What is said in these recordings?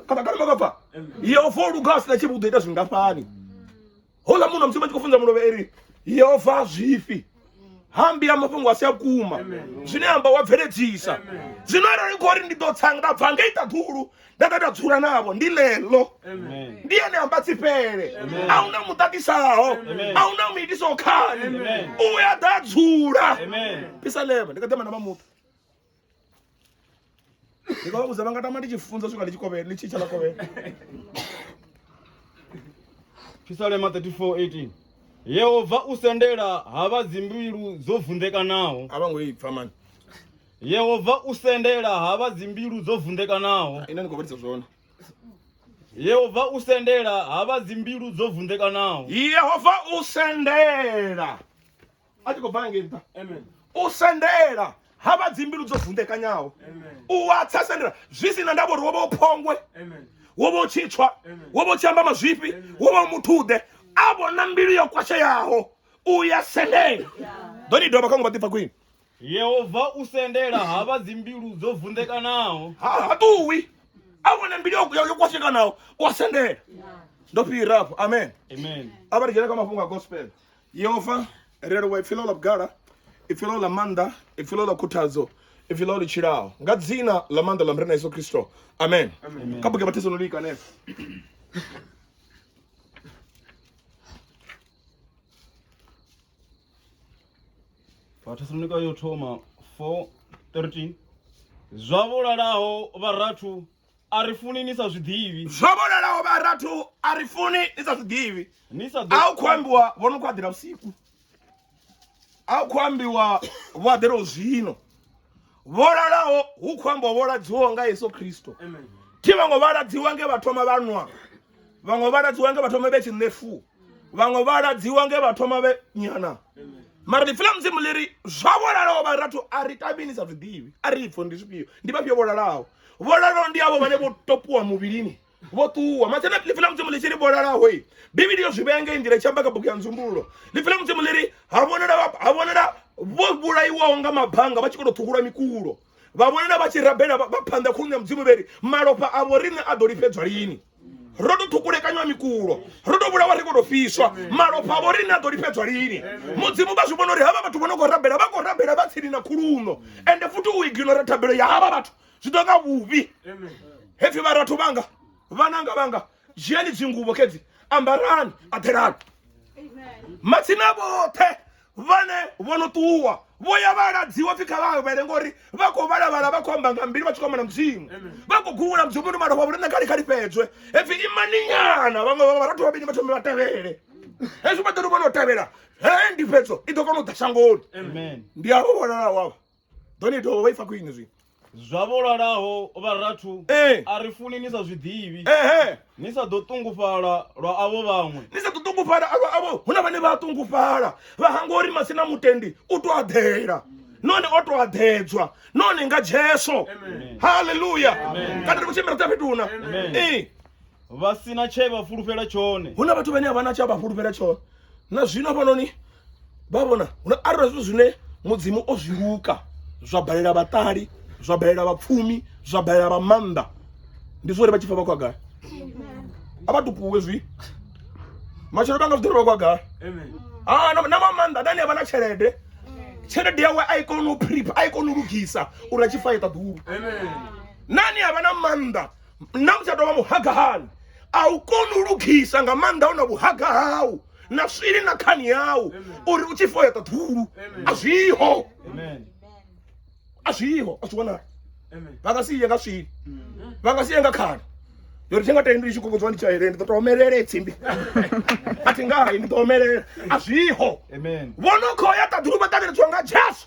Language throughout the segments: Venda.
kana kana maka pfa yehova o luga a sina tshivhi u ḓo ita zwingafhani hola munhu musi vha tshi khou funza mulovhe eri yehova zwifhi hambi ya mafhungo a si a kuma zwine amba wa bveledzisa zwino arali khou ri ndi ḓo tsanga nda bva nga ita ḓulu nda ḓa nda dzula navho ndi ḽeḽo ndi ene amba tsifhele a hu na muṱatisaho a hu na muitiso khani u ya ḓa dzula pisalema ndi kha ḓe mana vha muṱa ndi nga vha vhudza vha nga tama ndi tshi funza swika ndi tshi kovhela ndi tshi tsha vha kovhela Phisalema 34:18 Yehova u sendela ha vha dzimbilu dzo vunḓekanaho a vha ngo i pfa mani Yehova u sendela ha vha dzimbilu dzo vunḓekanaho ine ni khou vhalisa zwone Yehova u sendela ha vha dzimbilu dzo vunḓekanaho yehova u sendela a tshi khou bva ngei nṱha u sendela ha vha dzimbilu dzo vunḓekanyaho u wa tsa sendela zwi si na ndavha uri wo vha u phongwe wo vha u tshi tswa wo vha u tshi amba mazwifhi wo vha u muthuḓe a vhona mbilu yo kwasheyaho u ya sendela ḓo ni dovha kha ngo vha ḓipfa khwini yehova u sendela ha vha dzimbilu dzo vunḓekanaho ha ha ṱuwi a vhona mbilu yo- yo yo kwashekanaho u wa sendela ndo fhira afho amen amen a vha ri dzhene kha mafhungo a gospel yehova ri a livhuwa ipfi ḽo ḽa vhugala ipfi ḽo ḽa maanḓa ipfi ḽo ḽa khuthadzo ipfi ḽo ḽi tshilaho nga dzina ḽa maanḓa ḽa murena yesu kristo amen kha buke vhathesaloniki hanefho vhathesalonika yo thoma 4 13 zwa vhulalaho vharathu a ri funi ni sa zwiḓivhi zwo vhonalaho vha rathu a ri funi ni sa zwiḓivhi ni sa a u khou ambiwa vho no khou aḓela vhusiku a u khou ambiwa vho aḓela u zwino vho lalaho hu khou ambiwa vho ladziwaho nga yesu khristo thi vhango vha ladziwa nge vha thoma vha nwa vhaṅwe vha ladziwa nge vha thoma vhe tshi ṋefu vhaṅwe vha ladziwa nge vha thoma vhe nyana mara ḽipfi ḽa mudzimu ḽi ri zwa vholalaho vha rathu a ri tamini sa zwiḓivhi a ri pfo ndi zwifhio ndi vhafhio vholalaho vholalaho ndi avho vhane vho topiwa muvhilini vho ṱuwa mathena ḽipfi ḽa mudzimu ḽi tshi ri vholalaho i bivhili yo zwi vhea nga nḓila i tshi amba kha bugu ya nzumbululo ḽipfi ḽa mudzimu ḽi ri ha vhonala ha vhonala vho vhulaiwaho nga mabanga vha tshi khou tou ṱhukula mikulo vha vhonana vha tshi rabela vha phanḓa khulwane ya mudzimu vheri malofha avho riṋe a ḓo lifhedzwa lini ro tou ṱhukulekanywa mikulo ro tou vhulawa ri khou tou fiswa malofha avho riṋe a ḓo lifhedzwa lini mudzimu vha zwi vhona uri havha vhathu vho no khou rabela vha khou rabela vha tsini na khuluno ende futhi u iginora thabelo ya havha vhathu zwi ḓo nga vhuvhi hepfhi vharathu vhanga vhananga vhanga dzhiani dzinguvo kedzi ambarani aḓelani matsina vhoṱhe vhane vho no ṱuwa vho ya vha ladziwa pfi kha vha awele ngori vha khou vhalavhala vha khou amba nga mbili vha tshi khou amba na mudzimu vha khou gungula mudzimu muno malofha vhuri nṋe kha likhali fhedzwe hepfi imaninyana vhaṅwe vha vharathu vhavhili vha thome vha tevhele hezwi vha ḓo vha no tevhela he ndi fhedzo i ḓo kona u ḓa shangoni ndi avho vhonalaho avha ḓo ni dovha vha ifa khwine zwi zwa vho lalaho vharathu eh. a ri funi ni sa zwi ḓivhi ni sa ḓo ṱungufhala lwa avho vhaṅwe ni sa ḓo ṱungufhala lwa avho hu na vhane vha a ṱungufhala vha hangwa uri masina mutendi u to aḓela none o to aḓedzwa none nga jesu halleluya kana ri khou tshimbila dza fhethu huna ee vha si na tshe vha fulufhela tshone hu na vhathu vhane a vha na tshe vha fulufhela tshone na zwino hafhanoni vha vhona hu na arali zwithu zwine mudzimu o zwi luka zwa balela vhaṱali zwa balela vhapfumi zwa balela vha maanḓa ndi zwori vha tshi pfa vha khou gai a vha tupuwe zwi matshelo vha nga zwi ḓiri vha khou gai ah, na vha maanḓa nani a vha na tshelede tshelede yawe a i kona u prep a i kona u lugisa uri a tshi fa i ṱaḓulu nani a vha na maanḓa na u tsha tou vha muhagahani a u koni u lugisa nga maanḓa u na vhuhaga hau na swili na khani yau uri u tshi fo ya ṱaṱhulu a zwiho a zwiho a zwi wanala vha nga si ye nga swili vha nga si ye nga khani yori thi nga tendi ndi tshi kokodziwa ndi tshaele ndi ḓo to omelela tsimbi a thi ngayi ndi ḓo omelela a zwiho vho no khou ya ṱaḓulu vha ṱanganedzwa nga jesu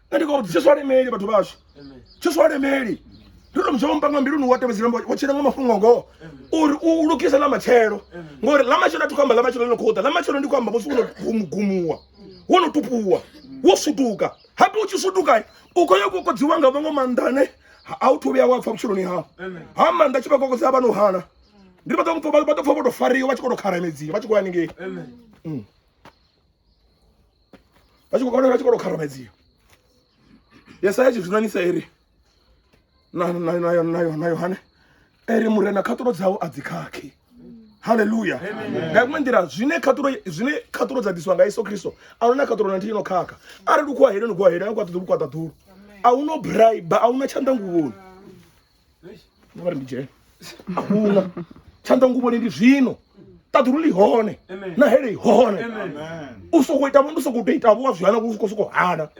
nṋe ndi khou tshiswa lemeli vhathu vhashu tshiswa lemeli ndi tou muzhoma mpanga mbiluni wa tevhedzela wo tshila nga mafhungo ngoho uri u lugise ḽa matshelo ngori ḽa matshelo a thi khou amba ḽa matshelo ḽi no khou ḓa ḽa matshelo ndi khou amba musi wo no gumugumuwa wo no tupuwa wo sutuka hape u tshi sutuka u khou yo kokodziwa nga vhaṅwe maanḓa ane a u thu vhuya wa pfha vhutshiloni hau ha maanḓa tshi vha kokodza a vha no hana ndi vha ḓo pfha vho to fariwa vha tshi khou to kharamedziwa vha tshi khou haningei vha tshi khou vhona vha tshi khou tou kharamedziwa yesaya tshi zwinanisa eri na yohane eri murena khaṱulo dzau a dzi khakhi haleluya nga iṅwe nḓila zwine khaṱulo zwine khaṱulo dza ḓiswa nga yesu kristo a luna khaṱulo na nthihi no khakha arali u khuwa heli no khuwa heli a kwaṱa ḓulu kwaṱa ḓulu a hu no braiba a hu na tshanḓanguvhoni no vha ri ndi dzhene a huna tshanḓa nguvhoni ndi zwino ṱaḓulu ḽi hone na hele i hone u sokou ita vho ndi sokou tou ita vho wa zwi hana u sokou sokou hana